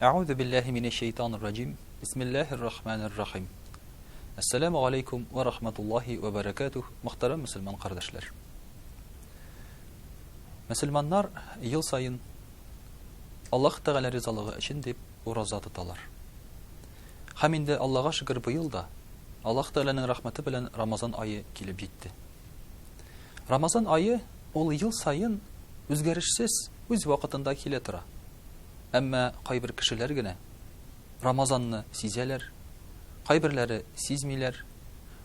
Әгъузу биллаһи минәш шәйтанир раҗим. Бисмиллаһир рахманир рахим. Ассаламу галейкум ва рахматуллаһи ва баракатух, мөхтәрәм мусульман кардәшләр. Мусульманнар ел саен Аллаһ Тәгалә ризалыгы өчен дип ураза тоталар. Хәм инде Аллаһга шөкер быел да Аллаһ Тәгаләнең рәхмәте белән Рамазан ае килеп җитте. Рамазан ае ул ел саен үзгәрешсез үз вакытында килә тора. Әмма кайбер кешеләр генә Рамазанны сизәләр, кайберләре сизмиләр,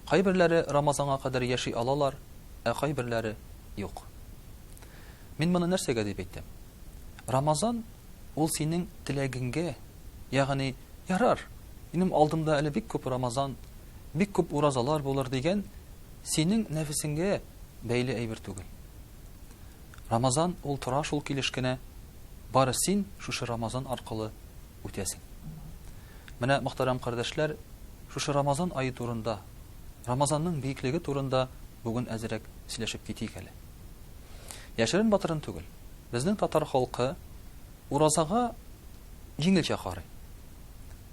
кайберләре Рамазанга кадәр яши алалар, ә кайберләре, юк. Мин моны нәрсәгә дип әйтәм? Рамазан ул синең теләгеңгә, ягъни, ярар, минем алдымда әле бик күп Рамазан, бик күп уразалар булыр дигән Синең нәфесеңгә бәйле әйбер түгел. Рамазан ул тора шул килеш кенә, бары син шушы Рамазан аркылы үтәсең. Менә, мөхтәрәм кардәшләр, шушы Рамазан ае турында, Рамазанның биеклеге турында бүген әзерәк сөйләшеп китик әле. Яшерен батырын түгел, безнең татар халкы уразага җиңелчә карый.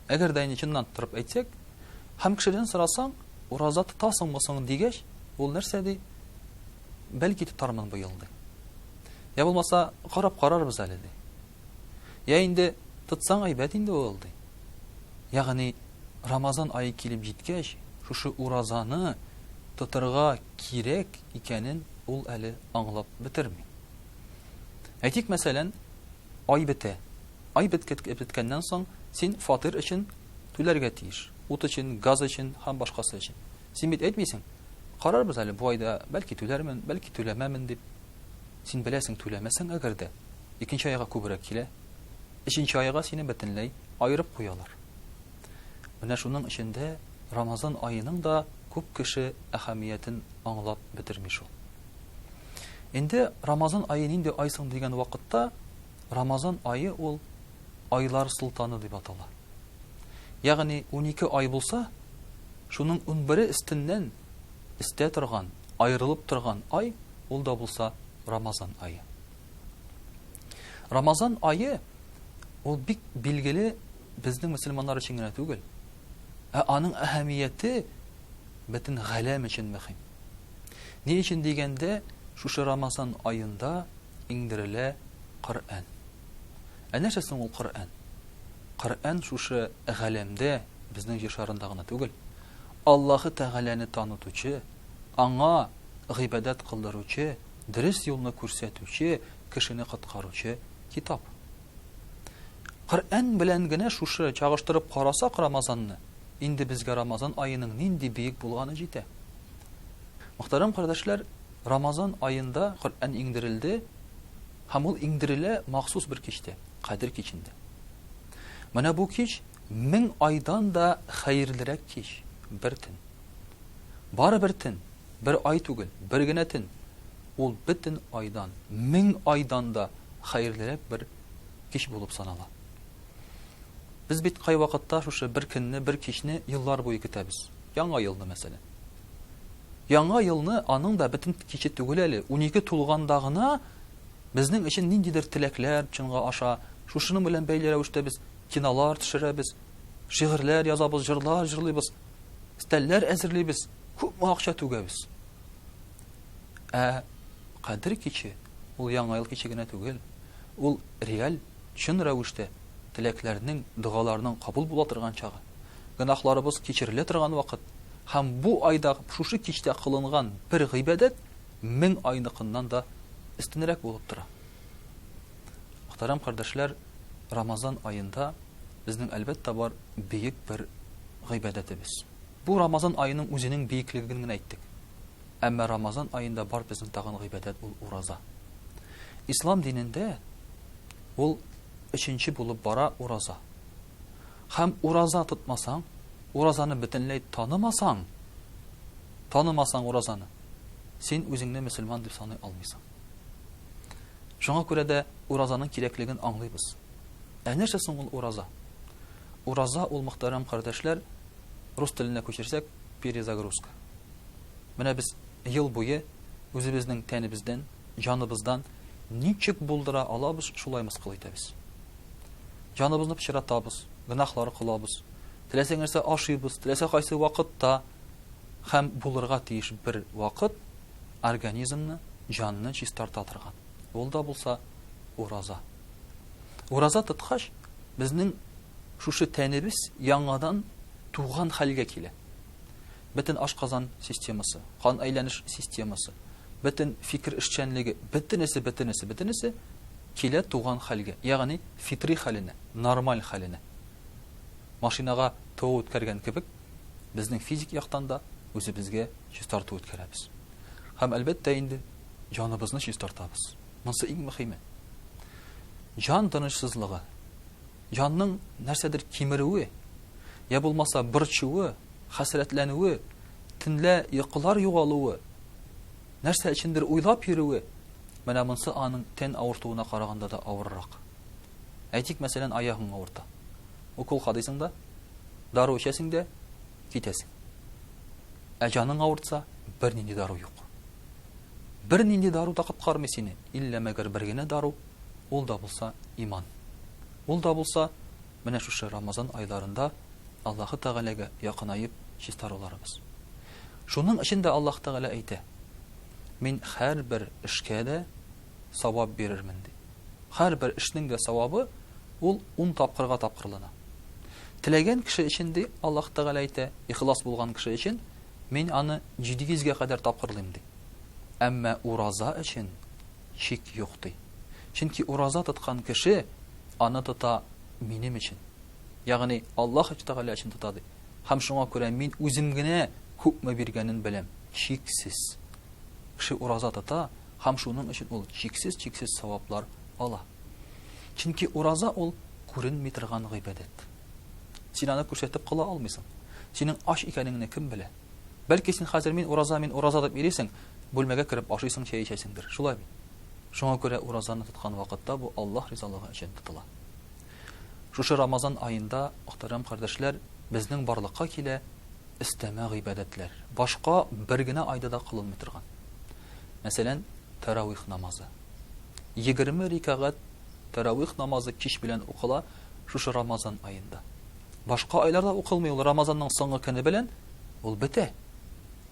Әгәр дә инде чыннан торып әйтсәк, һәм кешедән сорасаң, ураза тотасыңмы соң дигәч, ул нәрсә ди? Бәлки тотармын бу ел ди. Я булмаса, карап карарбыз әле ди. Я инде тотсаң әйбәт инде ул ди. Ягъни Рамазан ае килеп җиткәч, шушы уразаны тотырга кирәк икәнен ул әле аңлап бетерми. Әйтик, мәсәлән, ай бетә. Ай беткәннән соң, син фатир өчен түләргә тиеш, ут өчен, газ өчен һәм башкасы өчен. Син бит әйтмисең, Карарбыз әле, бу айда бәлки түләрмен, бәлки түләмәмен, дип. Син беләсең, түләмәсәң әгәр дә, икенче айга күбрәк килә, өченче айга сине бөтенләй аерып куялар. Менә шуның өчен дә Рамазан аеның да күп кеше әһәмиятен аңлап бетерми шул. Инде Рамазан ае нинди ай соң дигән вакытта, Рамазан ае ул айлар солтаны дип атала. Ягъни унике ай булса, шуның унбере өстеннән өстә торган, аерылып торган ай ул да булса Рамазан ае. Рамазан ае ул бик билгеле безнең мөселманнар өчен генә түгел, ә аның әһәмияте бөтен галәм өчен мөһим. Ни өчен дигәндә, шушы Рамазан аенда Иңдерелә Коръән. Ә нәрсә соң ул Коръән? Коръән шушы галәмдә, безнең Җир шарында гына түгел, Аллаһы Тәгаләне танытучы, Аңа гыйбадәт кылдыручы, дөрес юлны күрсәтүче, кешене коткаручы китап. Коръән белән генә шушы чагыштырып карасак Рамазанны, инде безгә Рамазан аеның нинди биек булганы җитә. Мөхтәрәм кардәшләр, Рамазан аенда Коръән иңдерелде һәм ул иңдерелә махсус бер кичтә, Кадер кичендә. Менә бу кич мең айдан да хәерлерәк кич, бер төн. Бары бер төн, бер ай түгел, бер генә төн. Ул бөтен айдан, мең айдан да хәерлерәк бер кич булып санала. Без бит кайвакытта шушы бер көнне, бер кичне еллар буе көтәбез. Яңа елны, мәсәлән. Яңа елны, аның да бөтен киче түгел әле, унике тулганда гына безнең өчен ниндидер теләкләр чынга аша. Шушының белән бәйле рәвештә без кинолар төшерәбез, шигырьләр язабыз, җырлар җырлыйбыз, стәлләр әзерлибез, күпме акча түгәбез. Ә Кадер киче, ул Яңа ел киче генә түгел, ул реаль чын рәвештә теләкләрнең, догаларның кабул була торган чагы, гөнаһларыбыз кичерелә торган вакыт һәм бу айда шушы кичтә кылынган бер гыйбадәт мең айныкыннан да өстенрәк булып тора. Мөхтәрәм кардәшләр, Рамазан аенда безнең, әлбәттә, бар бөек бер гыйбадәтебез. Бу Рамазан аеның үзенең биеклеген генә әйттек. Әмма Рамазан аенда бар безнең тагын гыйбадәт ул ураза. Ислам динендә ул өченче булып бара ураза. Хәм ураза тотмасаң, уразаны бөтенләй танымасаң, танымасаң уразаны, син үзеңне мөселман дип саный алмыйсың. Шуңа күрә дә уразаның кирәклеген аңлыйбыз. Ә нәрсә соң ул ураза? Ураза ул мөхтәрәм кардәшләр, рус теленә күчерсәк, перезагрузка. Менә без ел буе үзебезнең тәнебездән, җаныбыздан ничек булдыра алабыз, шулай мыскыл итәбез. Җаныбызны пычратабыз, гөнаһлар кылабыз, теләсә нәрсә ашыйбыз, теләсә кайсы вакытта һәм булырга тиеш бер вакыт организмны, җанны чистарта торган. Ул да булса ураза. Ураза тоткач, безнең шушы тәнебез яңадан туган хәлгә килә. Бөтен ашказан системасы, кан әйләнеш системасы, бөтен фикер эшчәнлеге, бөтенесе, бөтенесе, бөтенесе килә туган хәлгә, ягъни фитри хәленә, нормаль хәленә. Машинага тоо үткәргән кебек, безнең физик яктан да үзебезгә чистарту үткәрәбез. Һәм әлбәттә инде җаныбызны чистартабыз. Монсы иң мөхиме. Җан тынычсызлыгы, җанның нәрсәдер кимерүе, я булмаса борчуы, хәсрәтләнүе, төнлә йокылар югалуы, нәрсә өчендер уйлап йөрүе, менә монсы аның тән авыртуына караганда да авыррак. Әйтик, мәсәлән, аягың авырта. Укол кадыйсың да, дару эчәсең дә, китәсең. Ә җаның авыртса, бернинди дару юк. Бернинди дару да коткармый сине, иллә мәгәр бер генә дару, ул да булса, иман. Ул да булса, менә шушы Рамазан айларында Аллаһы Тәгаләгә якынаеп чистаруларыбыз. Шуның өчен дә Аллаһ Тәгалә әйтә, Мин һәрбер эшкә дә савап бирермен, ди. Һәрбер эшнең дә савабы ул ун тапкырга тапкырлана. Теләгән кеше өчен, ди, Аллаһ Тәгалә әйтә, ихлас булган кеше өчен Мин аны җиде йөзгә кадәр тапкырлыйм, ди. Әмма ураза өчен чик юк, ди. Чөнки ураза тоткан кеше аны тота минем өчен, ягъни Аллаһ Тәгалә өчен тота, ди. Һәм шуңа күрә мин үзем генә күпме биргәнен беләм, чиксез. Кеше ураза тота һәм шуның өчен ул чиксез-чиксез саваплар ала. Чөнки ураза ул күренми торган гыйбадәт. Син аны күрсәтеп кыла алмыйсың. Синең ач икәнеңне кем белә? Бәлки син хәзер мин ураза, мин ураза дип йөрисең, бүлмәгә кереп ашыйсың, чәй эчәсеңдер. Шулай бит? Шуңа күрә уразаны тоткан вакытта бу Аллаһ ризалыгы өчен тотыла. Шушы Рамазан аенда, мөхтәрәм кардәшләр, безнең барлыкка килә өстәмә гыйбадәтләр. Башка бер генә айда да кылынмый торган. Мәсәлән, тәравих намазы. 20 рикагать тәравих намазы кич белән укыла. Шушы Рамазан аенда. Башка айларда укылмый ул, Рамазанның соңгы көне белән ул бетә.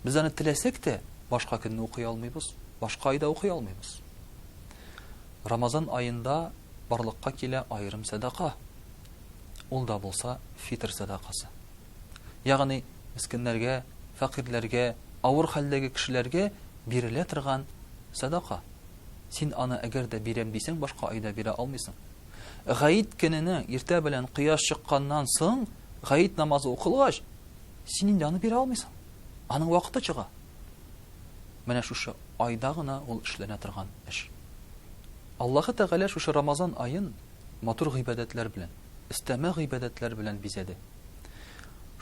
Без аны теләсәк тә, башка көнне укый алмыйбыз, башка айда укый алмыйбыз. Рамазан аенда барлыкка килә аерым сәдака. Ул да булса фитр сәдакасы. Ягъни мискиннәргә, фәкыйрьләргә, авыр хәлдәге кешеләргә бирелә торган сәдака. Син аны әгәр дә бирәм дисәң, башка айда бирә алмыйсың. Гаит көненә иртә белән кояш чыкканнан соң, гаит намазы укылгач, син инде аны бирә алмыйсың. Аның вакыты чыга. Менә шушы айда гына ул эшләнә торган эш. Аллаһы Тәгалә шушы Рамазан аен матур гыйбадәтләр белән, истәмә гыйбадәтләр белән бизәде.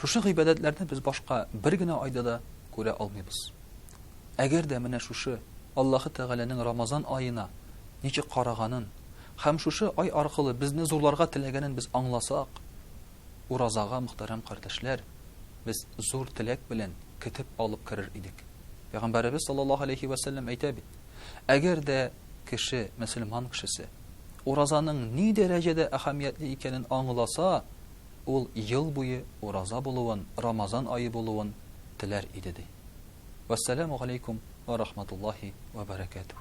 Шушы гыйбадәтләрне без башка бер генә айда да күрә алмыйбыз. Әгәр дә менә шушы Аллаһы Тәгаләнең Рамазан аена ничек караганын, Һәм шушы ай аркылы безне зурларга теләгәнен без аңласак, уразага, мөхтәрәм кардәшләр, без зур теләк белән көтеп алып керер идек. Пәйгамбәребез саллаллаһу галәйһи вә сәлләм әйтә бит, Әгәр дә кеше, мөселман кешесе, уразаның ни дәрәҗәдә әһәмиятле икәнен аңласа, ул ел буе ураза булуын, Рамазан ае булуын теләр иде, ди. Вәссәламү галәйкүм вә рахматуллаһи вә бәрәкәтүһ.